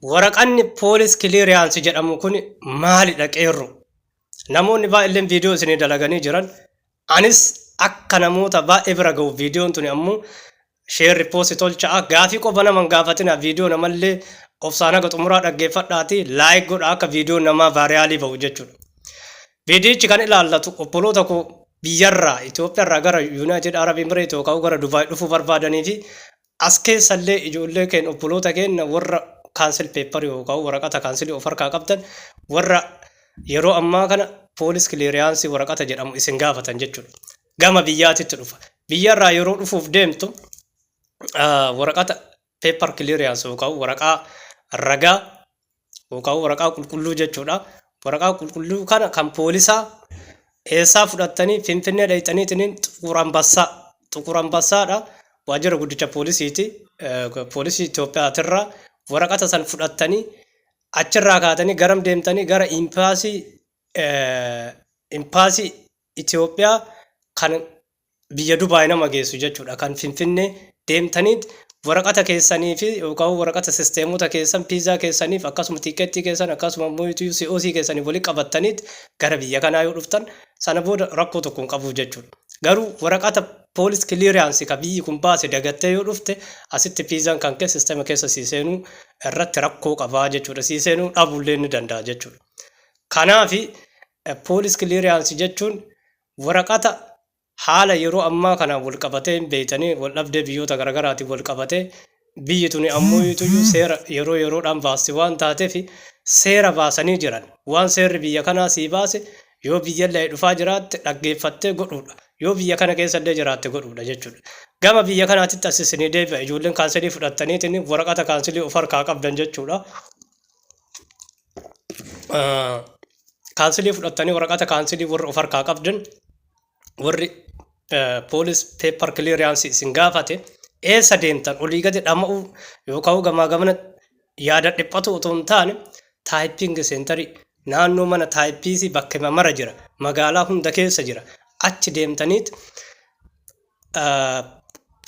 Waraqanni police clearance jedhamu kun maalidha qeerro? Namoonni baay'illeen viidiyoo isinii dalaganii jiran. Anis akka namoota baay'ee bira ga'u viidiyoon tuni ammoo share repost tolcha'a. Gaafii qofa nama hin gaafatina viidiyoo namallee obsaan haga xumuraa dhaggeeffadhaati like godha akka viidiyoon namaa vaariyaalii ba'u jechuudha. Viidiyichi kan ilaallatu obboloota koo biyyarraa Itoophiyarraa gara Yuunaayitid Arab Emireet yookaan gara Dubaay dhufuu barbaadanii fi As keessa illee ijoollee keenya obboloota keenya warra kaansel peepparii yookaan waraqata kaansilii of harkaa qabdan warra yeroo ammaa kana poolis kileeriyaansii waraqata jedhamu isin gaafatan jechuudha. Gama biyyaatitti dhufa. Biyyarraa yeroo dhufuuf deemtu ah, waraqata peeppar kileeriyaansi yookaan waraqaa ragaa yookaan waraqaa qulqulluu jechuudha. Waraqaa qulqulluu kana kan poolisaa eessaa fudhattanii Finfinnee dhayxaniitiin Xuqur Ambassaa Xuqur Ambassaadha waajjira guddicha poolisiiti poolisii Itoophiyaatirraa waraqata san fudhattanii achirraa kaatanii garam deemtanii gara impaasii impaasii Itoophiyaa kan biyya Dubai nama geessu jechuudha. Kan Finfinnee deemtanii waraqata keessanii fi yookaan waraqata sisteemota keessan piizaa keessaniif akkasuma tiikeettii keessan akkasuma immoo COC keessaniif walitti qabattanii gara biyya kanaa yoo dhuftan sana booda rakkoo tokko hin qabu jechuudha. Garuu waraqata poolis kiliiriyaansii kan biyyi kun baase dagattee yoo dhufte asitti piizaan kan kee sisteema keessa sii seenuu irratti rakkoo qabaa jechuudha. Sii seenuu dhabuullee ni danda'a jechuudha. Kanaaf Police clearance jechuun waraqata haala yeroo ammaa kanaan wal qabatee hin beektanii wal dhabdee biyyoota garagaraatiin wal qabatee biyyi tuni ammuuyituyyuu seera yeroo yeroodhaan baasti waan taateef seera baasanii jiran waan seerri biyya kanaa sii baase yoo biyyallee dhufaa jiraatte dhaggeeffattee godhuudha yoo biyya kana keessallee jiraatte godhuudha jechuudha. Gama biyya kanaatitti as isinii deebi'a ijoolleen kaansilii fudhattaniitiin waraqata kaansilii of harkaa qabdan jechuudha. kaansilii fudhattanii waraqata kaansilii warri of harkaa qabdan warri poolis peepar kiliiriyaansii isin gaafate eessa deemtan olii gadi dhama'uu yookaan gamaa gamana yaada dhiphatu otoo hin taane taayipiingi seentarii naannoo mana taayipiisii bakka mara jira magaalaa hunda keessa jira achi deemtaniit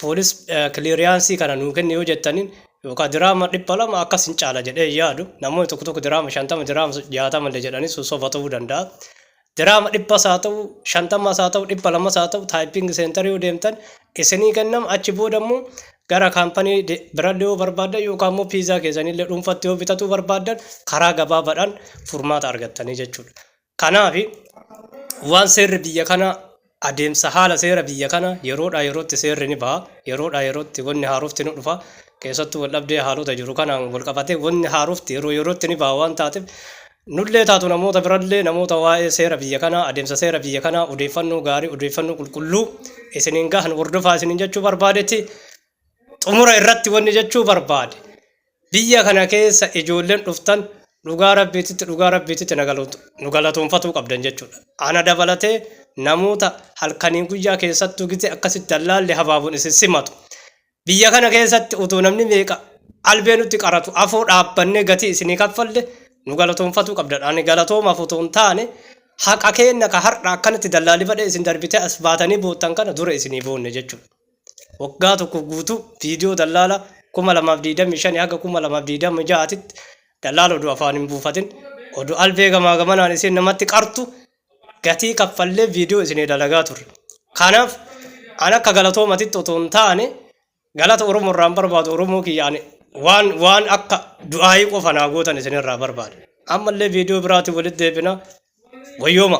poolis kiliiriyaansii kana nuu kenni yoo jettaniin yookaan diraama dhibba lama akkas hin caala jedhee hin yaadu namoonni tokko tokko diraama shantama diraama jaatama illee jedhanii sun soba ta'uu danda'a. Diraama dhibba isaa ta'u shantama isaa ta'u dhibba lama isaa ta'u taayippingi seentarii yoo deemtan isinii kennama achi booda immoo gara kaampanii birallee yoo barbaaddan yookaan immoo piizaa keessanillee dhuunfatti yoo bitatuu barbaaddan karaa gabaabaadhaan furmaata argattanii jechuudha. Kanaaf, waan seerri biyya kanaa adeemsa haala seera biyya kana yeroodhaa yerootti seerri ni baha, yeroodhaa yerootti wanni haarofti ni dhufa, keessattuu waldhabdee haalota jiru kanaan walqabatee wanni haarofti yeroo yerootti ni baha waan taateef, nullee taatu namoota birallee namoota waa'ee seera biyya kanaa, adeemsa seera biyya kanaa odeeffannoo gaarii, odeeffannoo qulqulluu isiniin gahan hordofaa isiniin jechuu barbaadeeti. Xumura irratti wanni jechuu barbaade. Biyya kana keessa ijoolleen dhuftan dhugaa Rabbiititti dhugaa Rabbiititti na galatu nu galatoonfatuu qabdan jechuudha. Ana dabalatee namoota halkanii guyyaa keessattuu gizee akkasitti dallaalli habaaboon isin simatu. Biyya kana keessatti utuu namni meeqa albee nutti qaratu afoo dhaabbannee gatii isinii kaffalle nu galatoonfatuu qabdan. Ani galatoomaaf utuu hin taane haqa keenna ka har'a akkanatti dallaalifadhee isin darbitee as baatanii boottan kana dura isinii boonne jechuudha. waggaa tokko guutuu viidiyoo dallaala 2025 haga 2026 titti dallaala oduu afaan hin buufatin oduu albee gamaa gamanaan isin namatti qartu gatii kaffallee viidiyoo isinii dalagaa turre kanaaf an akka galatoomatitti otoo hin taane galata oromoo irraan barbaadu oromoo kiyya ani waan waan akka du'aayii qofa naa gootan isin irraa barbaada ammallee viidiyoo biraatiin walitti deebina wayyooma